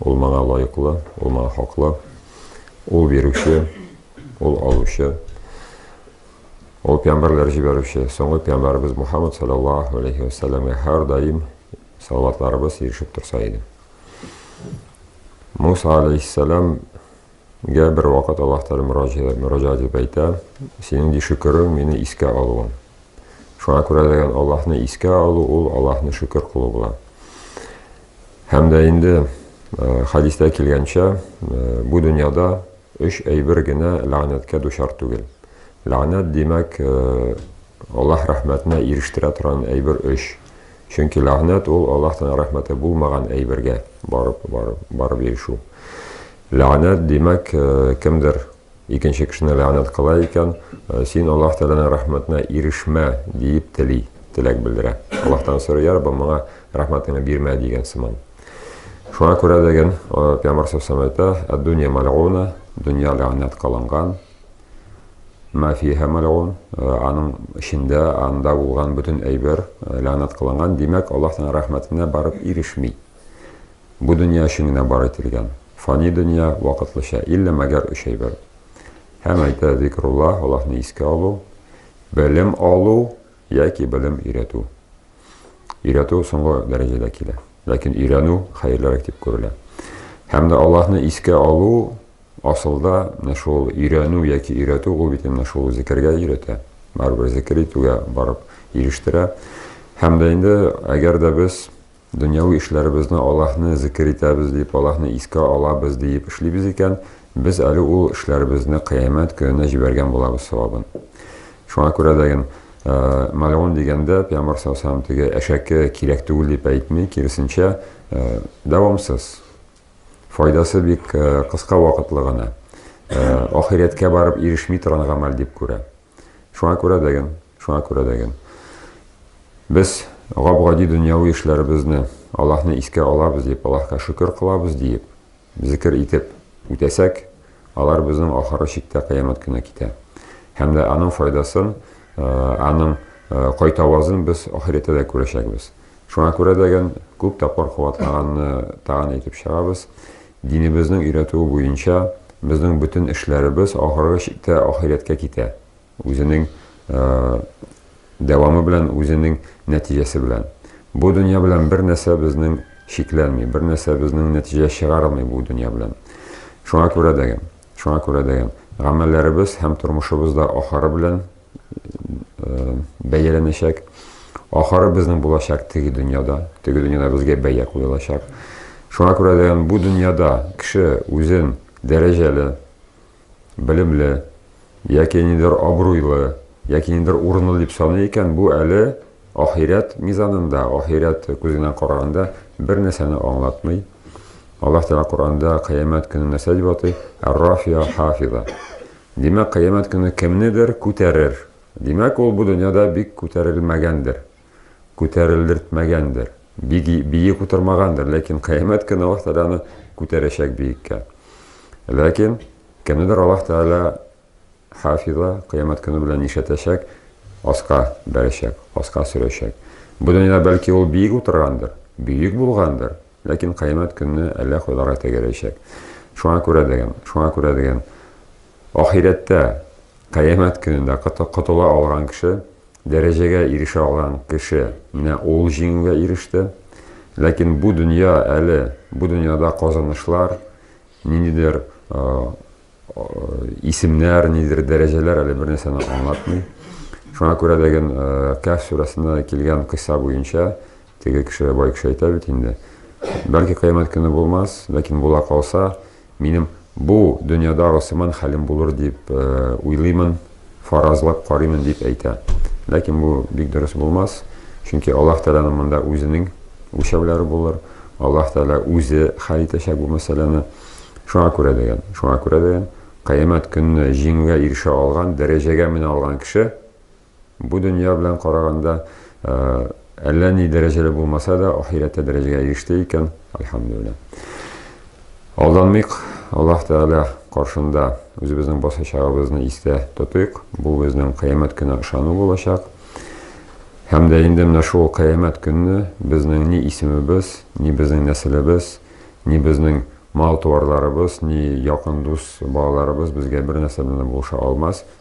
Ул моңа лаеклы, ул моңа хаклы. Ул бирүче, ул алучы. Ул пәйгамбәрләр җибәрүче, соңгы пәйгамбәребез Мухаммад саллаллаһу алейхи ва сәлламгә һәрдаим салаватларыбыз ирешеп торса иде. Муса алейһиссәлам Гә бер вакыт Аллаһ Тәгалә мөрәҗәгать итеп әйтә, синең ди шөкерең мине искә алуың. Шуңа күрә дигән Аллаһны искә алу ул Аллаһны шөкер кылу була. Һәм дә инде хадистә килгәнчә, бу дөньяда өч әйбер генә ләгънәткә дучар түгел. Ләгънәт димәк, Аллаһ рәхмәтенә ирештерә торган әйбер өч. Чөнки ләгънәт ул Аллаһ Тәгалә рәхмәте булмаган әйбергә барып барып барып ирешү. Ләгънәт, димәк, кемдер икенче кешене ләгънәт кыла икән, син Аллаһ Тәгаләнең рәхмәтенә ирешмә, диеп тели, теләк белдерә. Аллаһтан сорый, йә Раббым, моңа рәхмәтеңне бирмә, дигән сыман. Шуңа күрә дигән Пәйгамбәр сәлләһу әйтә, Әд-дөнья мәлгуна, дөнья ләгънәт кылынган, мә фиһа мәлгун, аның эчендә, анда булган бөтен әйбер ләгънәт кылынган, димәк, Аллаһ Тәгаләнең рәхмәтенә барып ирешми. Бу дөнья өчен генә бар ителгән. Фани дөнья, вакытлыча, иллә мәгәр өч әйбер. Һәм әйтә, Зикрулла, Аллаһны искә алу, белем алу яки белем өйрәтү. Өйрәтү соңгы дәрәҗәдә килә. Ләкин өйрәнү хәерлерәк дип күрелә. Һәм дә Аллаһны искә алу асылда менә шул өйрәнү яки өйрәтү ул бит менә шул зикергә өйрәтә. Барыбер зикер итүгә барып ирештерә. Һәм дә инде әгәр дә без Дөньяви эшләребезне Аллаһны зикер итәбез дип, Аллаһны искә алабыз диеп эшлибез икән, без әле ул эшләребезне Кыямәт көненә җибәргән булабыз савабын. Шуңа күрә дә ген, мәлгун дигәндә, Пәйгамбәр саллаллаһу алейһи ва сәлләм теге әшәке кирәк түгел дип әйтми, киресенчә, дәвамсыз. Файдасы бик кыска вакытлы гына. Ахирәткә барып ирешми торган гамәл дип күрә. Шуңа күрә дәген, шуңа күрә дәген. Без гап-гади дөньяви эшләребезне, Аллаһны искә алабыз дип, Аллаһка шөкер кылабыз диеп, зикер итеп үтәсәк, алар безнең ахыры чиктә кыямәт көне китә. Һәм дә аның файдасын, аның кайтавазын без ахирәттә дә күрәчәкбез. Шуңа күрә дәген күп тапкыр куатланганны тагын әйтеп чыгабыз. Динебезнең өйрәтүе буенча, безнең бөтен эшләребез ахыргы чиктә ахирәткә китә, үзенең дәвамы белән, үзенең нәтиҗәсе белән. Бу дөнья белән бер нәрсә безнең чикләнми, бер нәрсә безнең нәтиҗә чыгармый бу дөнья белән. Шуңа күрә дә, шуңа күрә дә гамәлләребез һәм тормышыбыз да ахыры белән, бәяләнәчәк. Ахыры безнең булачак теге дөньяда. Теге дөньяда безгә бәя куелачак. Шуңа күрә дә бу дөньяда кеше үзен дәрәҗәле, белемле, яки нидер абруйлы, яки нидер урынлы дип саный икән, бу әле ахирәт мизанында, ахирәт күзеннән караганда бер нәрсәне аңлатмый. Аллаһ Тәгалә Коранда кыямәт көнен нәрсә дип атый? Ар-Рафия хафиза. Димәк, Кыямәт көне кемнедер күтәрер. Димәк, ул бу дөньяда бик күтәрелмәгәндер. Күтәрелдертмәгәндер. Бик биек утырмагандыр. Ләкин Кыямәт көне Аллаһ Тәгалә аны күтәрәчәк биеккә. Ләкин кемнедер Аллаһ Тәгалә хафиза Кыямәт көне белән нишләтәчәк? Аска бәрәчәк, аска сөрәчәк. Бу дөньяда бәлки ул биек утыргандыр, бөек булгандыр. Ләкин кыямәт көнне әллә кайларга тәгәрәячәк. Шуңа күрә дигән, шуңа күрә дигән, ахирәттә, кыямәт көнендә котыла алган кеше, дәрәҗәгә ирешә алган кеше, менә ул җиңүгә иреште. Ләкин бу дөнья әле, бу дөньяда казанышлар, ниндидер исемнәр, ниндидер дәрәҗәләр әле бернәрсәне аңлатмый. Шуңа күрә дигән, Кәһф сүрәсендә килгән кыйсса буенча, Теге кеше, бай кеше әйтә бит инде, Бәлки кыямәт көне булмас, ләкин була калса, минем бу дөньядагы сыман хәлем булыр дип уйлыймын, фаразлап карыймын дип әйтә. Ләкин бу бик дөрес булмас, чөнки Аллаһ Тәгаләнең монда үзенең үлчәүләре булыр, Аллаһ Тәгалә үзе хәл итәчәк бу мәсьәләне. Шуңа күрә дигән, шуңа күрә дигән, кыямәт көнне җиңүгә ирешә алган, дәрәҗәгә менә алган кеше Бу дөнья белән караганда, әллә ни дәрәҗәле булмаса да, ахирәттә дәрәҗәгә иреште икән, альхамдулилла. Алданмыйк, Аллаһ Тәгалә каршында үзебезнең басачагыбызны истә тотыйк. Бу безнең кыямәт көненә ышану булачак. Һәм дә инде менә шул кыямәт көнне безнең ни исемебез, ни безнең нәселебез, ни безнең мал-туарларыбыз, ни якын дус балаларыбыз безгә бер нәрсә белән дә булыша алмас.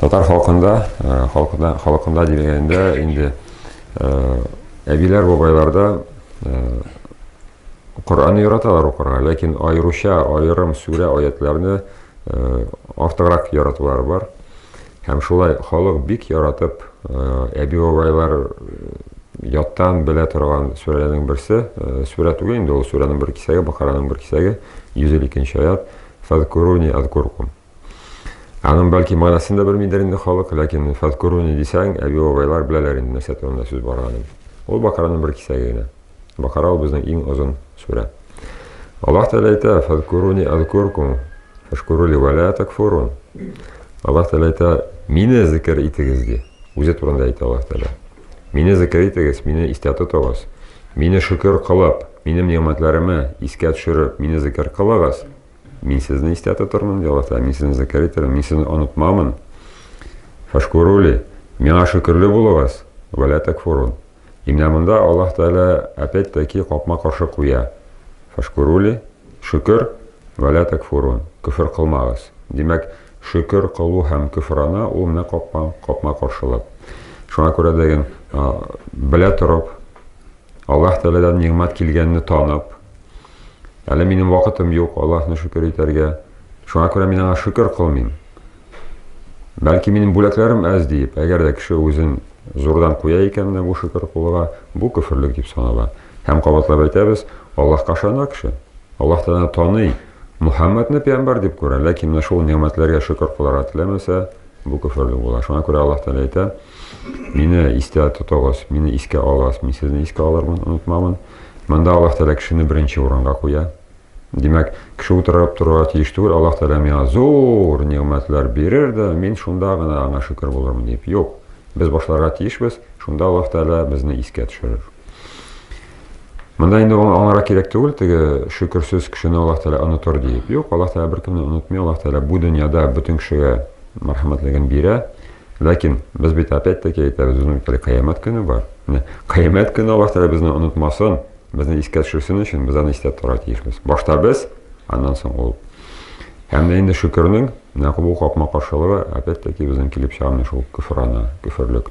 Татар халкында, халкында, халкында дигәндә инде әбиләр, бабайларда Коръәнне яраталар укырга, ләкин аеруча аерым сүрә аятларны артыграк яратулары бар. Һәм шулай халык бик яратып әби бабайлар яттан белә торган сүрәләрнең берсе, сүрә түгел инде ул, сүрәнең бер кисәге, Бакараның бер кисәге, 152 нче аят, Фазкуруни азкуркум. Аның бәлки манасын да белмидер инде халык, ләкин фәткүруни дисәң, әби бабайлар беләләр инде нәрсә турында сүз барганын. Ул бакараның бер кисәге генә. Бакара ул безнең иң озын сүрә. Аллаһ Тәгалә әйтә, фәткүруни азкуркум, фәшкүрули вәлә такфурун. Аллаһ Тәгалә әйтә, мине зикер итегез ди. Үзе турында әйтә Аллаһ Тәгалә. Мине зикер итегез, мине истә тотыгыз. Мине шөкер кылып, минем нигъмәтләремә искә төшереп, мине зикер кылыгыз. Мин сезне истә тотырмын, ди Аллаһ Тәгалә. Мин сезне зәкәр итәрмен, мин сезне онытмамын. Фашкурули, миңа шөкерле булыгыз, вәлә тәкфурун. Имнә монда Аллаһ Тәгалә опять таки капма каршы куя. Фашкурули, шөкер, вәлә тәкфурун. Көфер кылмагыз. Димәк, шөкер кылу һәм көфрана ул менә капма, капма каршылык. Шуңа күрә дигән, белә торып, Аллаһ Тәгаләдән нигъмәт килгәнне танып, Әле минем вакытым юк, Аллаһны шөкер итәргә. Шуңа күрә мин аңа шөкер кылмыйм. Бәлки минем бүләкләрем әз диеп, әгәр дә кеше үзен зурдан куя икән менә бу шөкер кылуга, бу көферлек дип санала. Һәм кабатлап әйтәбез, Аллаһка ышана кеше. Аллаһ Тәгалә таный, Мухаммадны пәйгамбәр дип күрә, ләкин менә шул нигъмәтләргә шөкер кылырга теләмәсә, Бу көферлек була. Шуңа күрә Аллаһ Тәгалә әйтә, Мине истә тотыгыз, мине искә алыгыз, мин сезне искә алырмын, онытмамын. Монда Аллаһ Тәгалә кешене беренче урынга куя. Димәк, кеше утырып торырга тиеш түгел, Аллаһ Тәгалә миңа зур нигъмәтләр бирер дә, мин шунда гына аңа шөкер булырмын дип. Юк. Без башларга тиешбез, шунда Аллаһ Тәгалә безне искә төшерер. Монда инде ул аңара кирәк түгел, теге шөкерсез кешене Аллаһ Тәгалә онытыр диеп. Юк, Аллаһ Тәгалә беркемне онытмый, Аллаһ Тәгалә бу дөньяда бөтен кешегә мәрхәмәтлеген бирә. Ләкин без бит опять-таки әйтәбез, безнең бит әле кыямәт көне бар. Менә кыямәт көне Аллаһ Тәгалә безне онытмасын, безне искә төшерсен өчен без аны истә тора тиешбез. Башта без, аннан соң ул. Һәм дә инде шөкернең нәкъ бу капма-каршылыгы опять-таки безнең килеп чыга менә шул көфрана, көферлек.